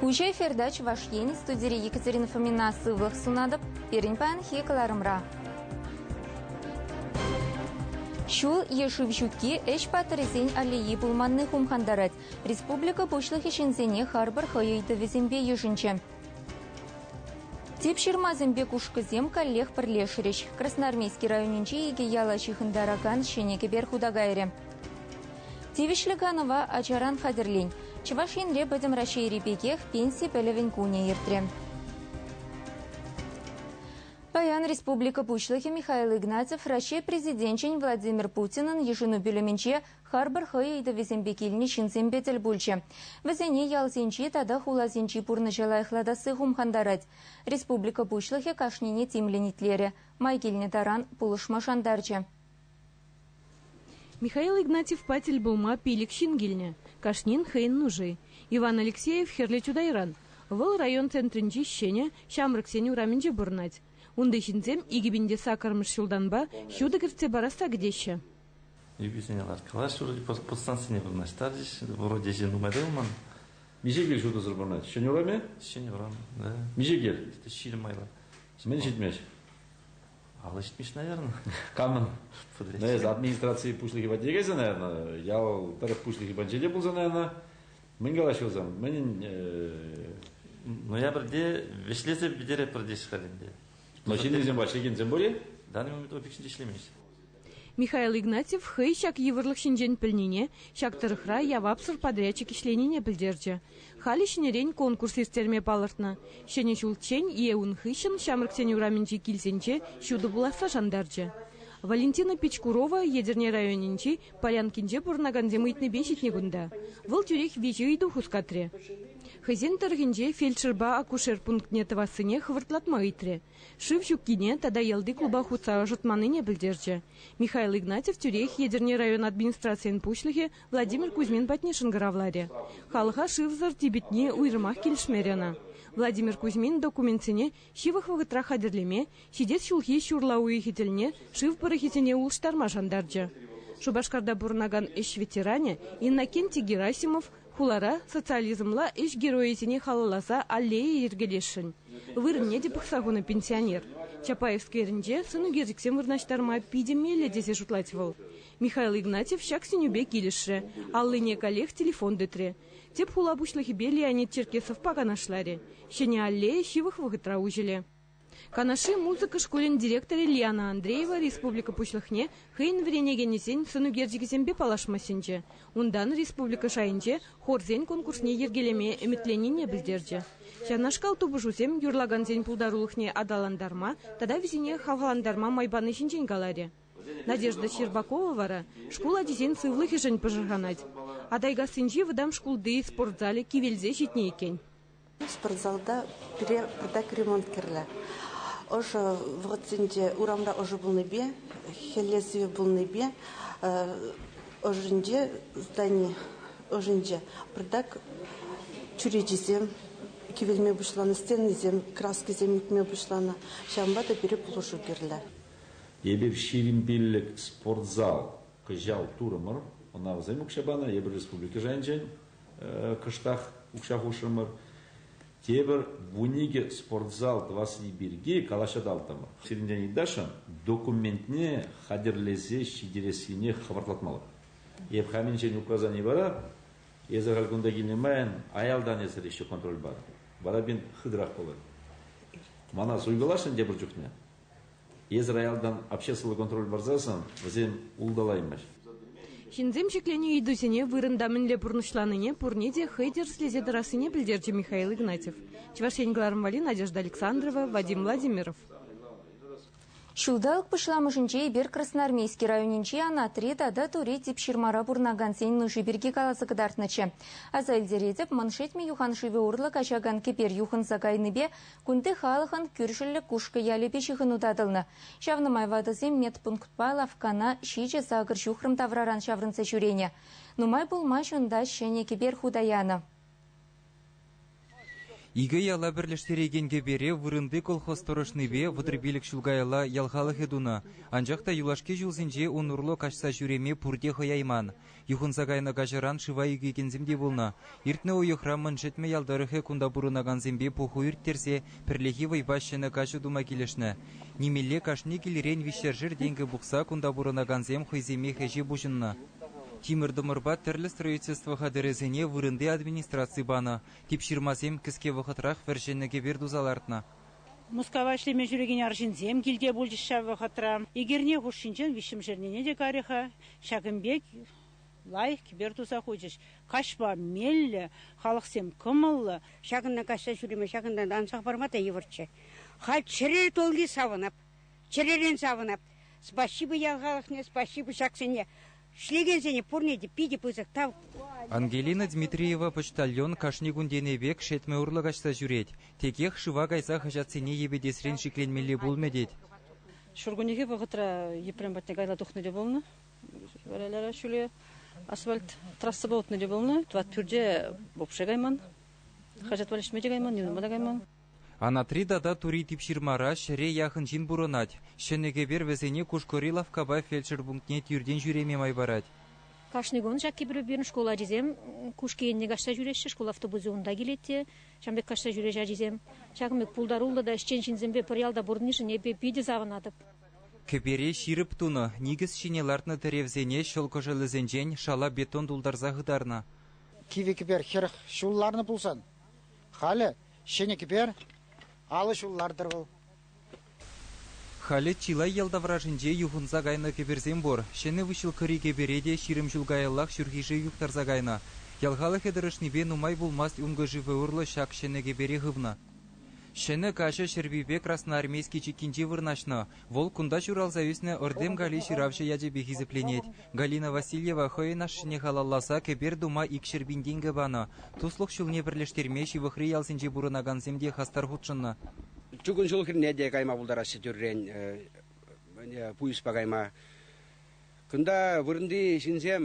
Уҫӑ эфирта Чӑваш Ен студири Екатерина Фомина сывлӑх сунатӑп пирӗн паянхи кӑларӑмра. Ҫул е шыв ҫутки ӗҫ паттӑрӗсен аллеи пулманни хумхантарать. Республика Пуҫлӑхӗ ҫынсене харпӑр хӑй ыйтӑвӗсемпе йышӑнчӗ. Тип ҫырмасемпе кушкӑсем каллех пӗрлешрӗҫ. Красноармейски районӗнчи икӗ яла ҫыхӑнтаракан ҫӗнӗ кӗпер хута кайрӗ. Тивӗҫлӗ канӑва ачаран хатӗрлен. Чӑваш Енре Пӗтӗм Раҫҫейри пекех пенси пӗлӗвӗн кунӗ иртрӗ. Паян Республика Пуҫлӑхӗ Михаил Игнатьев Раҫҫей Президенчӗн Владимир Путинӑн йышӑну пӳлӗмӗнче Харпӑр хӑй ыйтӑвӗсемпе килнӗ ҫынсемпе тӗл пулчӗ. Вӗсене ялсенчи тата хуласенчи пурнӑҫа лайӑхлатасси хумхантарать. Республика Пуҫлӑхӗ кашнине тимлӗн итлерӗ, май килнӗ таран пулӑшма шантарчӗ. Михаил Игнатьевпа тӗл пулма пилӗк ҫын килнӗ, кашнин хӑйӗн нуши. Иван Алексеев Хӗрлӗ Чутайран. Вӑл район центрӗнчи ҫӗнӗ Ҫамрӑксен урамӗнче пурӑнать. Унти ҫынсем икӗ пин те саккӑрмӗш ҫултанпа ҫутӑ кӗртсе парасса кӗтеҫҫӗ. Эписене ларткалаҫҫӗ, вроде подстанцине вырнаҫтарчӗҫ. Вроде ӗҫе нумай тӑвӑлман. Миҫе кил ҫутӑсӑр пурӑнать? Ҫӗнӗ урам-и? Ҫӗнӗ урам, да. Миҫе кил? Ҫирӗм майлӑ. Мӗн ҫитмест? Алӑ ҫитмест, наверное. Камӑн? Но эс администраци пуҫлӑхӗ патне кайса, наверное, ял пӗр пуҫлӑхӗ патне те пулса, наверное, мӗн калаҫӑлсан, мӗнӗн... Ноябрьте вӗҫлесе пӗтереппӗр тесе халь ӗнтӗ. Но ҫыннисем, ҫекенсем пур-и? В данный момент опыт ӗҫлемест. Михаил Игнатьев хӑй ҫак йывӑрлӑх ҫинчен пӗлнине, ҫак тӑрӑхра явапсӑр подрядчик ӗҫленине пӗлтерчӗ. Халӗ ҫӗнӗрен конкурс ирттерме палӑртнӑ. Ҫӗнӗ ҫулччен е ун хыҫҫӑн Ҫамрӑксен урамӗнчи килсенче ҫутӑ пуласса шантарчӗ. Валентина Пичкурова Етӗрне районӗнчи Полянкинче пурӑнакансем ыйтнипе ҫитнӗ кунта. Вӑл тӳрех виҫӗ ыйту хускатрӗ. Хӑйсен тӑрӑхӗнче фельдшерпа акушер пунктне тӑвассине хӑвӑртлатма ыйтрӗ. шыв ҫуккине тата ялти клуба хутса ӑшӑтманнине пӗлтерчӗ. Михаил Игнатьев тӳрех Етӗрне район администрацийӗн пуҫлӑхӗ Владимир Кузьмин патне шӑнкӑравларӗ. Халӑха шывсӑр типӗтни уйрӑмах килӗшмерӗ ӑна. Владимир Кузьмин документсене ҫывӑх вӑхӑтрах хатӗрлеме, ҫитес ҫулхи ҫурла уйӑхӗ тӗлне шыв пӑрӑхӗсене улӑштарма шантарчӗ. Шупашкарта пурӑнакан ӗҫ ветеранӗ Иннокентий Герасимов Хулара социализмла ӗҫ геройӗсене халалласа аллея йӗркелесшӗн. Вырӑнне те пӑхса хунӑ пенсионер. Чапаевскерӗнче сӑн ӳкерчӗксем вырнаҫтарма питӗ меллӗ тесе шутлать вӑл. Михаил Игнатьев ҫак сӗнӳпе килӗшрӗ, аллине каллех телефон тытрӗ. Тӗп хула пуҫлӑхӗпе Леонид Черкесовпа канашларӗ. Ҫӗнӗ аллея ҫывӑх вӑхӑтра уҫӑлӗ. Канашри музыка шкулӗн директорӗ Лена Андреева республика Пуҫлӑхне хӑйӗн вӗренекенӗсен сӑнӳкерчӗкӗсемпе паллашма сӗнчӗ. Унтан республика шайӗнче хорсен конкурсне йӗркелеме ӗмӗтленине пӗлтерчӗ. Ҫавнашкал тупӑшусем юрлакансен пултарулӑхне аталантарма тата вӗсене хавхалантарма май пани ҫинчен каларӗ. Надежда Щербакова вара шкул ачисен сывлӑхӗшӗн пӑшӑрханать. Атайкассинчи вӑтам шкулти спорт залӗ кивелсе ҫитнӗ иккен. Спортзалта пире пӗртак ремонт кирлӗ. Ӑшӑ вӑхӑтсенче урамра ӑшӑ пулнипе, хӗлле сивӗ пулнипе ӑшӗнче здани ӑшӗнче пӗртак чӳречисем кивелме пуҫланӑ, стенисем, краскӑсем ӳкме пуҫланӑ. Ҫавӑнпа та пире пулӑшу кирлӗ. Эпир ҫирӗм пиллӗк спортзал кӑҫал турӑмӑр. Ӑна вӗсем укҫа панӑ, эпир республика шайӗнчен. кӑштах укҫа хушрӑмӑр. Тепӗр вун икӗ спортзал тӑвасси пирки калаҫаталтӑмӑр. Сирӗнтен ыйтасшӑн документне хатӗрлесе ҫитерессине хӑвӑртлатмалла. Эп хамӗнчен указани вара эсӗ халь кунта килнӗ майӑн аялтан эсӗр еще контроль пар. Вара пин хытӑрах пулӑр. Мана суйкаласшӑн тепӗр чухне. Эсӗ роялтан обществӑлла контроль парсассӑн вӗсем улталаймасть. Ҫынсем ҫӗкленӳ ыйтусене вырӑнта мӗнле пурнӑҫланине пурне те хӑй тӗрӗслесе тӑрассине пӗлтерчӗ Михаил Игнатьев. Чӑваш Ен кӑларӑмвали Надежда Александрова, Вадим Владимиров. Ҫулталӑк пуҫламӑшӗнче эпир Красноармейски районӗнчи Анатри тата Тури Типҫырмара пурӑнакансен нуши пирки каласа кӑтартнӑччӗ. Аса илтеретӗп, Мӑн Шетмӗ юхан шывӗ урлӑ каҫакан кӗпер юхӑнса кайнипе Кунти халӑхӑн кӳршӗллӗ Кушкӑ ялӗпе ҫыхӑну татӑлнӑ. Ҫавна май ватӑсем медпунктпа лавккана ҫичӗ сакӑр ҫухрӑм тавраран ҫаврӑнса ҫӳренӗ. Нумай пулмасть унта ҫӗнӗ кӗпер хута янӑ. Икӗ яла пӗрлештерекен кӗпере вырӑнти колхоз тӑрӑшнипе вӑтӑрпилӗк ҫул каялла ял халӑхӗ тунӑ. Анчах та юлашки ҫулсенче ун урлӑ каҫса ҫӳреме пурте хӑяйман. Юхӑнса кайнӑ каҫаран шыва ӳкекенсем те пулнӑ. Иртнӗ уйӑхра Мӑн Шетмӗ ял тӑрӑхӗ кунта пурӑнакансемпе пуху ирттерсе пӗрлехи вӑйпа ҫӗнӗ каҫу тума килӗшнӗ. Нимелле кашни килрен виҫшершер тенкӗ пухса кунта пурӑнакансем хӑйсемех ӗҫе пуҫӑннӑ. Тимӗр-тӑмӑрпа тӗрлӗ строительство хатӗрӗсене вырӑнти администраци панӑ, типҫырмасем кӗске вӑхӑтрах вӗр ҫӗнӗ кӗпер туса лартнӑ. Мускава ӗҫлеме ҫӳрекен арҫынсем килте пулчӗҫ ҫав вӑхӑтра. Эгерне хушшинчен виҫҫӗмӗш эрнене те карӗ-ха. Ҫакӑн пек лайӑх кӗпер туса хучӗҫ. Каҫпа меллӗ, халӑхсем кӑмӑллӑ. Ҫакӑнта каҫса ҫӳреме ҫакӑнтан ансах парма та йывӑрччӗ. Халь чӗре тулли савӑнап. Чӗререн савӑнап. Спаҫҫипе ял халӑхне, спаҫҫипе ҫаксене, ӗҫлекенсене пурне те питӗ пысӑк тав. Ангелина Дмитриева почтальон кашни кун тенӗ пек шетмӗ урлӑ каҫса ҫӳрет. Текех шыва кайса хаҫатсене йӗпетесрен шикленмелле пулмӗ тет. Ҫуркуннехи вӑхӑтра Епрем патне кайла тухнӑ те пулнӑ. Варалара ҫӳле асфальт трассӑпа утнӑ те пулнӑ. Тӑват пӳрте вообще кайман. Хаҫат валеҫме те кайман, юнӑма та кайман. Анатри тата Тури Типҫырмара ҫӗре яхӑн ҫын пурӑнать. Ҫӗнӗ кӗпер вӗсене Кушкӑри лавккапа фельдшер пунктне тӳртен ҫӳреме май парать. Кашни кун ҫак кӗпере пирӗн шкул ачисем Кушки енне каҫса ҫӳреҫҫӗ, шкул автобусӗ унта килет те ҫавӑн пек каҫса ҫӳреҫ ачисем. Ҫакӑн пек пултаруллӑ та ӗҫчен ҫынсемпе пӗр ялта пурӑннишӗн эпир питӗ савӑнатӑп. Кӗпере ҫирӗп тунӑ, никӗс ҫине лартнӑ тӗревсене ҫӑл кӑшӑлӗсенчен шала бетон тултарса хытарнӑ. Кивӗ кӗпер хӗрӗх ҫул ларнӑ пулсан Халӗ ҫӗнӗ кӗпер, алӑ ҫул лартӑр вӑл. Халӗ чылай ял таврашӗнче юхӑнса кайнӑ кӗперсем пур. Ҫӗнӗ выҫҫӑлккӑри кӗпере те ҫирӗм ҫул каяллах ҫурхише юхтарса кайнӑ. Ял халӑхӗ тӑрӑшнипе нумай пулмасть ункӑ-шифӗ урлӑ ҫак ҫӗнӗ кӗпере хывнӑ. Ҫӗнӗ каҫӑ Ҫӗрпӳпе Красноармейски чиккинче вырнаҫнӑ. Вӑл кунта ҫуралса ӳснӗ Ыртем Гали ҫыравҫӑ ячӗпе хисепленет. Галина Васильева хӑйӗн ашшӗне халалласа кӗпер тума икҫӗр пин тенкӗ панӑ. Туслӑх ҫулне пӗрлештерме ҫывӑхри ялсенче пурӑнакансем те хастар хутшӑннӑ. Чукун ҫул хӗрне те кайма пултараҫҫӗ тӳррен пуйӑспа кайма. Кунта вырӑнти ҫынсем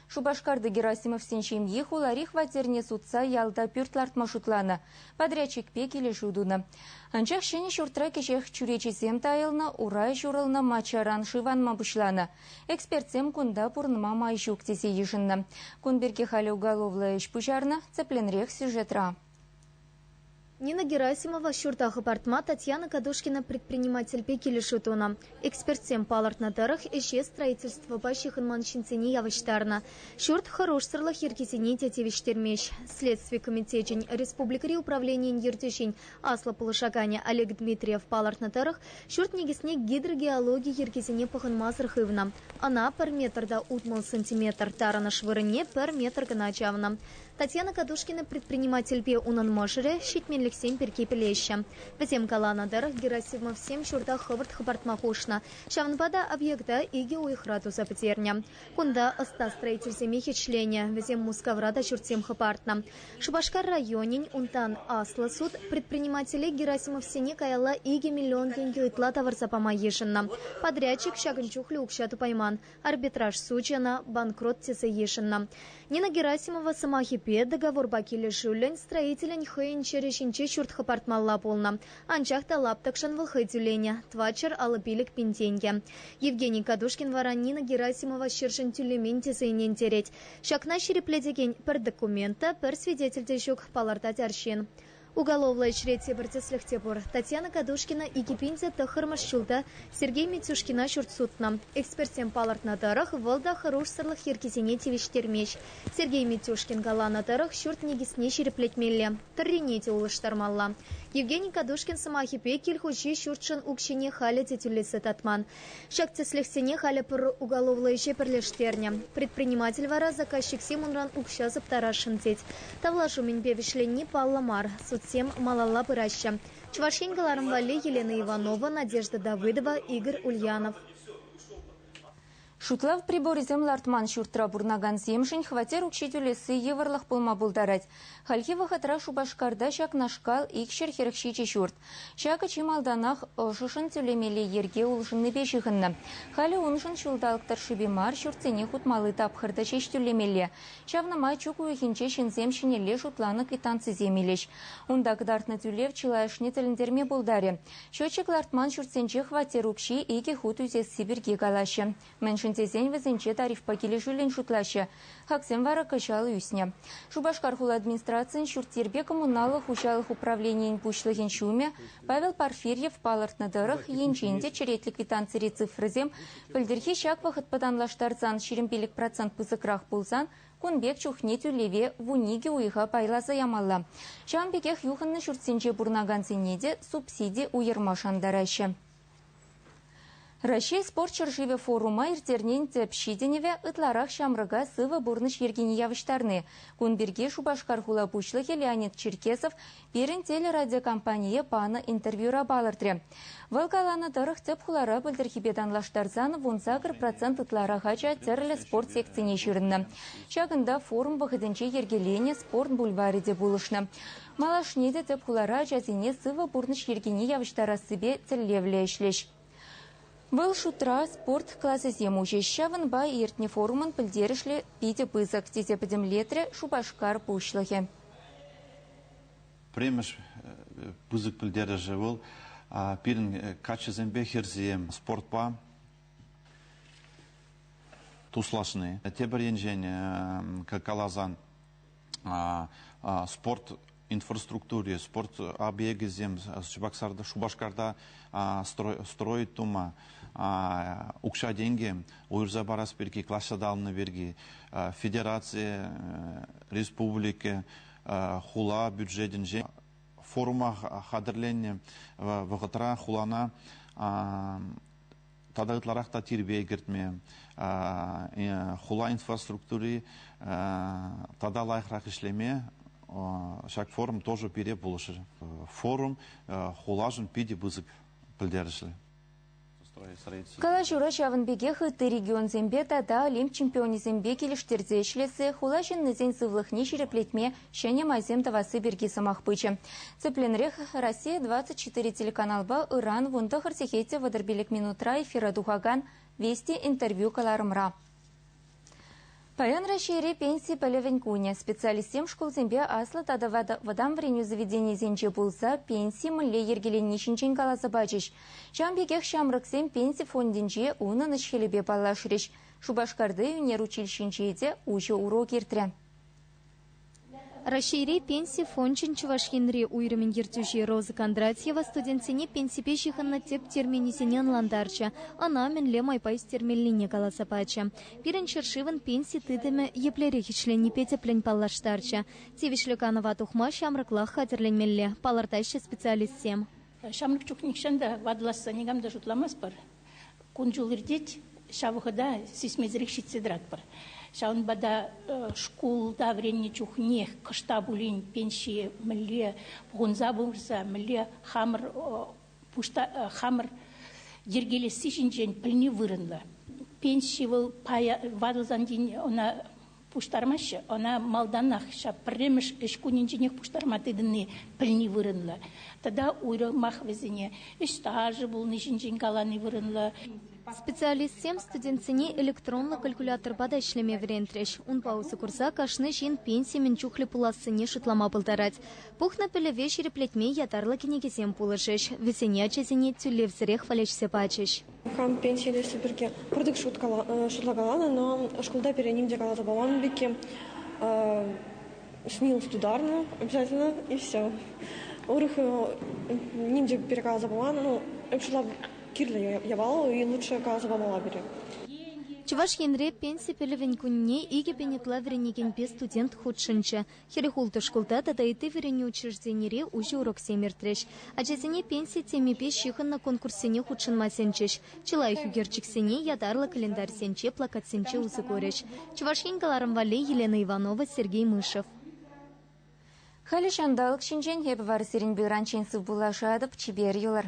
Шупашкарти Герасимовсен ҫемйи хулари хваттерне сутса ялта пӳрт лартма шутланӑ, подрядчикпе килӗшӳ тунӑ. Анчах ҫӗнӗ ҫуртра кӗҫех чӳречисем тайӑлнӑ, урай ҫурӑлнӑ маччаран шыв анма пуҫланӑ. Экспертсем кунта пурӑнма май ҫук тесе йышӑннӑ. Кун пирки халӗ уголовлӑ ӗҫ пуҫарнӑ, тӗплӗнрех сюжетра. Нина Герасимова ҫурта хӑпартма Татьяна Кадошкина предпринимательпе килӗшӳ тунӑ. Экспертсем палӑртнӑ тӑрӑх, ӗҫе строительствӑпа ҫыхӑнман ҫынсене явӑҫтарнӑ. Ҫурт хӑрушсӑрлӑх йӗркисене те тивӗҫтермест. Следстви комитечӗн республикӑри управленийӗн ертӳҫин аслӑ пулӑшаканӗ Олег Дмитриев палӑртнӑ тӑрӑх, ҫурт никӗсне гидрогеологи йӗркисене пӑхӑнмасӑр хывнӑ. Ӑна пӗр метрта утмӑл сантиметр, тарӑнӑш вырӑнне пӗр метр кӑна чавнӑ. Татьяна Кадушкина предпринимательпе унӑн мӑшӑрӗ ҫитменлӗхсем пирки пӗлеҫҫӗ. Вӗсем каланӑ тӑрӑх, Герасимовсем ҫурта хӑвӑрт хӑпартма хушнӑ, ҫавӑнпа та объекта икӗ уйӑхра туса пӗтернӗ. Кунта ӑста строительсене хӗчленӗ, вӗсем Мускавра та ҫуртсем хӑпартнӑ. Шупашкар районӗн, унтан аслӑ суд предпринимателе Герасимовсене каялла икӗ миллион тенкӗ ытла тавӑрса пама йышӑннӑ. Подрядчик ҫакӑн чухлӗ укҫа тупайман, Арбитраж сучӗ ӑна банкрот тесе йышӑннӑ. Нина Герасимова сӑмахӗпе, договорпа килӗшӳллӗн строителӗн хӑйӗн ҫӗрӗ ҫинче ҫурт хӑпартмалла пулнӑ, анчах та лаптӑкшӑн вӑл хӑй тӳленӗ тӑватҫӗр алӑ пилӗк пин тенкӗ. Евгений Кадушкин вара Нина Герасимова ҫӗршӗн тӳлемен тесе ӗнентерет. Ҫакна ҫирӗплетекен пӗр документ та, пӗр свидетель те ҫук, палӑртать арҫын. Уголовлӑ ӗҫре тепӗр тӗслӗх те пур. Татьяна Кадушкина икӗ пин те тӑххӑрмӗш ҫулта Сергей Митюшкина ҫурт сутнӑ. Экспертсем палӑртнӑ тӑрӑх, вӑл та хӑрушсӑрлӑх йӗркисене тивӗҫтермест. Сергей Митюшкин каланӑ тӑрӑх, ҫурт никӗсне ҫирӗплетмелле, тӑррине те улӑштармалла. Евгений Кадушкин сӑмахӗпе, кил хуҫи ҫуртшӑн укҫине халӗ те тӳлесе татман. Ҫак тӗслӗхсене халӗ пӗр уголовлӑ ӗҫе пӗрлештернӗ. Предприниматель вара заказчиксем унран укҫа сыптарасшӑн тет. Тавлашу мӗнпе вӗҫленни паллӑ мар, судсем малалла пыраҫҫӗ. Чӑваш Ен кӑларӑм валли Елена Иванова, Надежда Давыдова, Игорь Ульянов. Шутлав приборӗсем лартман ҫуртра пурӑнакансемшӗн хваттер укҫи тӳлесси йывӑрлӑх пулма пултарать. Хальхи вӑхӑтра Шупашкарта ҫакнашкал икҫӗр хӗрӗх ҫичӗ ҫурт. Ҫакӑ чи малтанах ӑшӑшӑн тӳлемелли йӗрке улшӑннипе ҫыхӑннӑ. Халӗ уншӑн ҫулталӑк тӑршшӗпе мар ҫуртсене хутмалли тапхӑр та ҫеҫ тӳлемелле. Ҫавна май чӳк уйӑхӗнче ҫынсем ҫӗнӗлле шутланӑ квитанцисем илӗҫ. Унта кӑтартнӑ тӳлев чылайӑшне тӗлӗнтерме пултарӗ. Счетчик лартман ҫуртсенче хваттер укҫи икӗ хут ӳсесси пирки калаҫҫӗ, Мӗншӗн тесен вӗсенче тарифпа килӗшӳллӗн шутлаҫҫӗ. Хаксем вара кӑҫал ӳснӗ. Шупашкар хула администрацийӗн ҫурт-йӗрпе коммуналлӑ хуҫалӑх управленийӗн пуҫлӑхӗн ҫумӗ Павел Порфирьев палӑртнӑ тӑрӑх, енчен те черетлӗ квитанцири цифрӑсем пӗлтӗрхи ҫак вӑхӑт пӑтанлаштарсан ҫирӗм пилӗк процент пысӑкрах пулсан, кун пек чухне тӳлеве вун икӗ уйӑха пайласа ямалла. Ҫавӑн пекех юхӑннӑ ҫуртсенче пурӑнакансене те субсиди уйӑрма шантараҫҫӗ. Раҫҫей спорт ҫӗршывӗ форума ирттернин тӗп ҫитӗнӗвӗ ытларах ҫамрӑка сывӑ пурнӑҫ йӗркине явӑҫтарни. Кун пирки Шупашкар хула пуҫлӑхӗ Леонид Черкесов пирӗн телерадиокомпание панӑ интервьюра палӑртрӗ. Вӑл каланӑ тӑрӑх, тӗп хулара пӗлтӗрхипе танлаштарсан вун сакӑр процент ытларах ача тӗрлӗ спорт секцине ҫырӑннӑ. Ҫакӑнта форум вӑхӑтӗнче йӗркеленӗ спорт бульварӗ те пулӑшнӑ. Малашне те тӗп хулара ачасене сывӑ пурнӑҫ йӗркине явӑҫтарассипе тӗллевлӗ ӗҫлӗҫ. Вӑл шутра спорт класӗсем уҫӗҫ. Ҫавӑнпа иртнӗ форумӑн пӗлтерӗшлӗ питӗ пысӑк, тесе пӗтӗмлетрӗ Шупашкар пуҫлӑхӗ. Пӗрремӗш пысӑк пӗлтерӗшӗ вӑл пирӗн каччӑсемпе хӗрсем спортпа туслашни. Тепӗр енчен каласан спорт инфраструктури, спорт объекӗсем Чебоксарта, Шупашкарта строить тума укҫа-тенкӗ уйӑрса парас пирки, класс ҫаталанӑ пирки федераци, республика, хула бюджетӗнче форума хатӗрленнӗ вӑхӑтра хулана тата ытларах та тирпей кӗртме, хула инфраструктури тата лайӑхрах ӗҫлеме ҫак форум тоже пире пулӑшӗ. Форум хулашӑн питӗ пысӑк пӗлтерӗшлӗ. Калаҫура ҫавӑн пекех ытти регионсемпе тата олимп чемпионӗсемпе килӗштерсе ӗҫлессе, хула ҫыннисен сывлӑхне ҫирӗплетме ҫӗнӗ майсем тӑвасси пирки сӑмах пычӗ. Тӗплӗнрех Россия 24 телеканалпа ыран вунтӑхӑр сехете вӑтӑр пилӗк минутра эфира тухакан Вести интервью кӑларӑмра. Паян Раҫҫейре пенси пӗлӗвӗн кунӗ. Специалистсем шкулсемпе аслӑ тата вӑтам вӗренӳ заведенийӗсенче пулса пенси мӗнле йӗркеленни ҫинчен каласа пачӗҫ. Ҫавӑн пекех ҫамрӑксем пенси фондӗнче унӑн ӗҫ-хӗлӗпе паллашрӗҫ. Шупашкарти ӳнер училищинче те уҫӑ урок иртрӗ. Раҫҫейри Пенси фончӗн Чӑваш Енри уйрӑмӗн ертӳҫи Роза Кондратьева студентсене пенсипе ҫыхӑннӑ тӗп терминӗсене ӑнлантарчӗ, ӑна мӗнле майпа ӳстермеллине каласа пачӗ. Пирӗн ҫӗршывӑн пенси тытӑмӗ еплерех ӗҫленипе тӗплӗн паллаштарчӗ. Тивӗҫлӗ канӑва тухма ҫамрӑклах хатӗрленмелле, палӑртаҫҫӗ специалистсем. Ҫамрӑк чух нихҫан та ватӑласса никам та шутламастпӑр. Кун-ҫул иртет, ҫав вӑхӑта сисмесӗрех ҫитсе тӑратпӑр. Ҫавӑнпа та шкулта вӗреннӗ чухнех кӑшта пулин пенсие мӗнле пухӑнса пырса, мӗнле хамӑр хамӑр йӗркелесси ҫинчен пӗлни вырӑнлӑ. Пенси вӑл пая ватӑлсан тин ӑна Пуҫтармаҫҫӗ ӑна малтанах ҫав пӗрремӗш ӗҫ кунӗнченех пуҫтарма тытӑнни пӗлни вырӑнлӑ. Тата уйрӑмах вӗсене ӗҫ стажӗ пулни ҫинчен калани вырӑнлӑ. Специалистсем студентсене электронлӑ калькуляторпа та ӗҫлеме вӗрентрӗҫ. Унпа усӑ курса кашни ҫын пенси мӗн чухлӗ пулассине шутлама пултарать. Пухнӑ пӗлӗве ҫирӗплетме ятарлӑ кӗнекесем пулӑшӗҫ, вӗсене ачасене тӳлевсӗрех валеҫсе пачӗҫ. Хам пенси илесси пирки пӗртӗк шутлакаланӑ, но шкулта пире ним те каласа паман пекки смелость ударна обязательно и все. Урӑх ним те пире каласа паман, ну, шутла кирлӗ явал и лучше каласа памала пире. Чӑваш Енре пенси пӗлӗвӗн кунне икӗ пин ытла вӗренекенпе студент хутшӑнчӗ. Хӗрӗх ултӑ шкулта тата ытти вӗренӳ учрежденире уҫӑ уроксем иртрӗҫ. Ачасене пенси темипе ҫыхӑннӑ конкурссене хутшӑнма сӗнчӗҫ. Чи лайӑх ӳкерчӗксене ятарлӑ календарьсенче, плакатсенче усӑ курӗҫ. Чӑваш Ен кӑларӑм валли Елена Иванова, Сергей Мышев. Халӗ ҫанталӑк ҫинчен эпӗ вара сирӗн пуйранчен сывпуллашатӑп. Чипер юлӑр.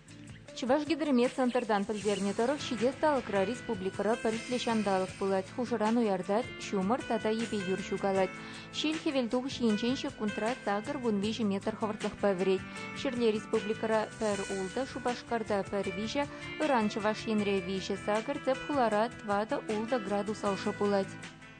Чӑвашгидроmet центртан пӗлтернӗ тӑрӑх, ҫитес талӑкра республикӑра пӗлӗтлӗ ҫанталӑк пулать, хушӑран уяртать, ҫумӑр тата йӗпе юр ҫукалать. Ҫил хӗвелтухӑҫ енчен ҫеккунтра сакӑр вун виҫӗ метр хӑвӑртлӑхпа вӗрет. Ҫӗрле республикӑра пӗр ултӑ, Шупашкарта пӗр виҫӗ, ыран Чӑваш Енре виҫӗ сакӑр, тӗп хулара тӑватӑ ултӑ градус ӑшӑ пулать.